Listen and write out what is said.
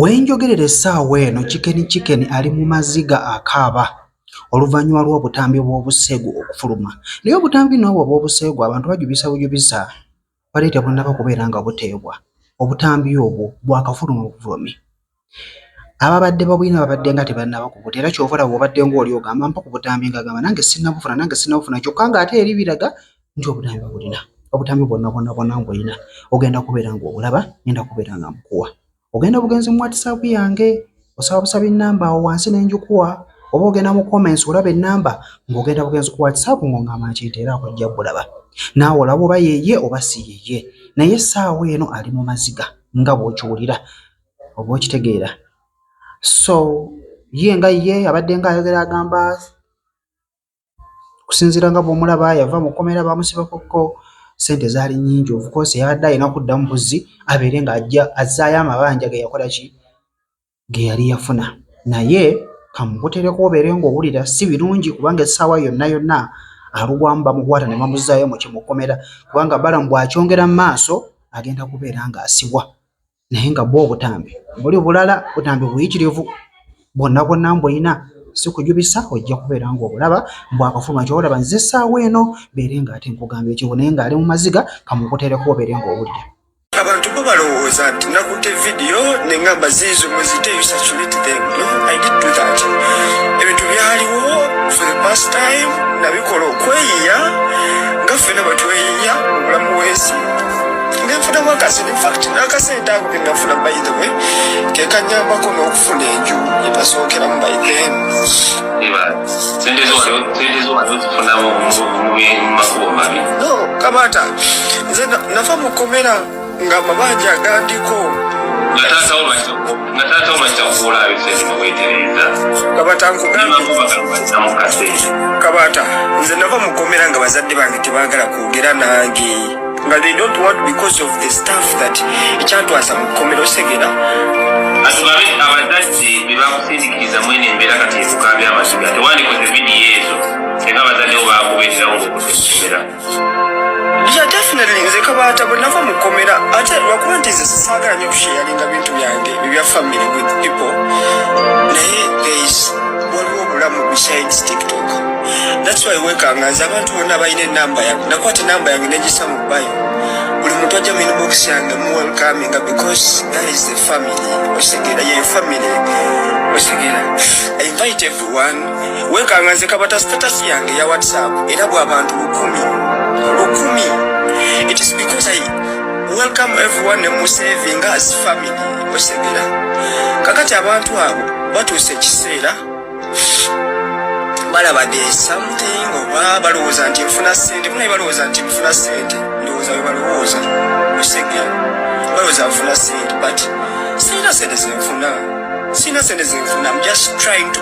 We njogerera essaawa eno, Chicken Chicken ali mu maziga akaaba oluvannyuma lw'obutambi obw'obuseegu okufuluma. Naye obutambi nno obwo obw'obuseegu abantu bajubisa bujubisa, bwali tebunnaba kubeera nga buteebwa. Obutambi obwo bwakafuluma bufulume. Ababadde babulina babadde nga tebannaba kubulya era ky'ova olaba bw'obaddenga oli ogamba mpa ku butambi ng'agamba nange sinnabufuna nange sinnabufuna kyokka ng'ate eri biraga nti obutambi babulina obutambi bwonna bwonna bwonna ngolina ogenda kubeera nga obulaba ngenda kubeera nga mbukuwa ogenda bugenzi mu whatsapp yange osaba busabi namba awo wansi nenjukuwa oba ogenda mu comments olaba enamba ng'ogenda bugenzi ku whatsapp ng'ongamba nti nti era akojja bulaba naawe olaba oba yeye oba si yeye naye essaawa eno ali mu maziga nga bw'okiwulira oba okitegeera so ye nga ye abadde nga ayogera agamba okusinziira nga bw'omulaba yava mu kkomera baamusibakokko ssente zaali nnyingi ofukoosi yabadde alina okuddamu buzzi abeere ng'ajja azzaayo amabanja ge yakola ki ge yali yafuna naye kamukutereko obeere ng'owulira si birungi kubanga essaawa yonna yonna alugwamu bamukwata ne bamuzzaayo mu kimukomera kubanga balamu bw'akyongera mu maaso agenda kubeera ng'asibwa. naye nga bwo obutambi buli bulala butambi buyitirivu bwonna bwonna mbulina sikujubisa ojja kubeera ngaobulaba mbw akafuluma kyobalaba nze essaawa eno beere nga ate nkugamba ekibu naye ngaali mu maziga kamukuteereko obeere ngaowulira abantu bo balowooza nti nakutte vidiyo nengamba ziizo mweziteebintu byaliwo for the past time nabikola okweyiya nga ffena bwetweyiya obulamu bwensi nenfunamu akasente infact nakasente ako kenafuna by the way kekanyambako nokufuna enju yenasookeramu by then no kamata nze nafa mukomera nga amabanja agandiko kabata nze nava mukomera nga bazadde bange tebagala kwogera nange nga they don't want because of the staff that ekyatwasa mu kkomero segera asobabe abazadde bebakusindikiriza mwene embeera kati ekukambya amaziga tewandikoze vidiyo ezo era abazadde bo bakubeererawo ngaokusokomera ya definitely nze kabaata bwe nava mu kkomera ate lwakuba nti nze saagala nyo kusheyalinga bintu byange ebya family with people naye guys waliwo obulamu besides tiktok That's why wekanga nze abantu bonna balina enamba yange nakwata enamba yange negisa mu bayo buli muntu ajja mu inbox yange mu welcominga because that is the family okitegera yeyo family okitegera i invite everyone wekanga nze kabata status yange ya whatsapp era bwabantu lukumi lukumi it is because i welcome everyone ne mu saving as family okitegera kakati abantu abo batuuse ekiseera balaba de something oba balowooza nti nfuna sente munaye balowooza nti nfuna sente ndowooza we balowooza musege balowooza nfuna sente but sirina sente zenfuna sirina sente zenfuna am just trying to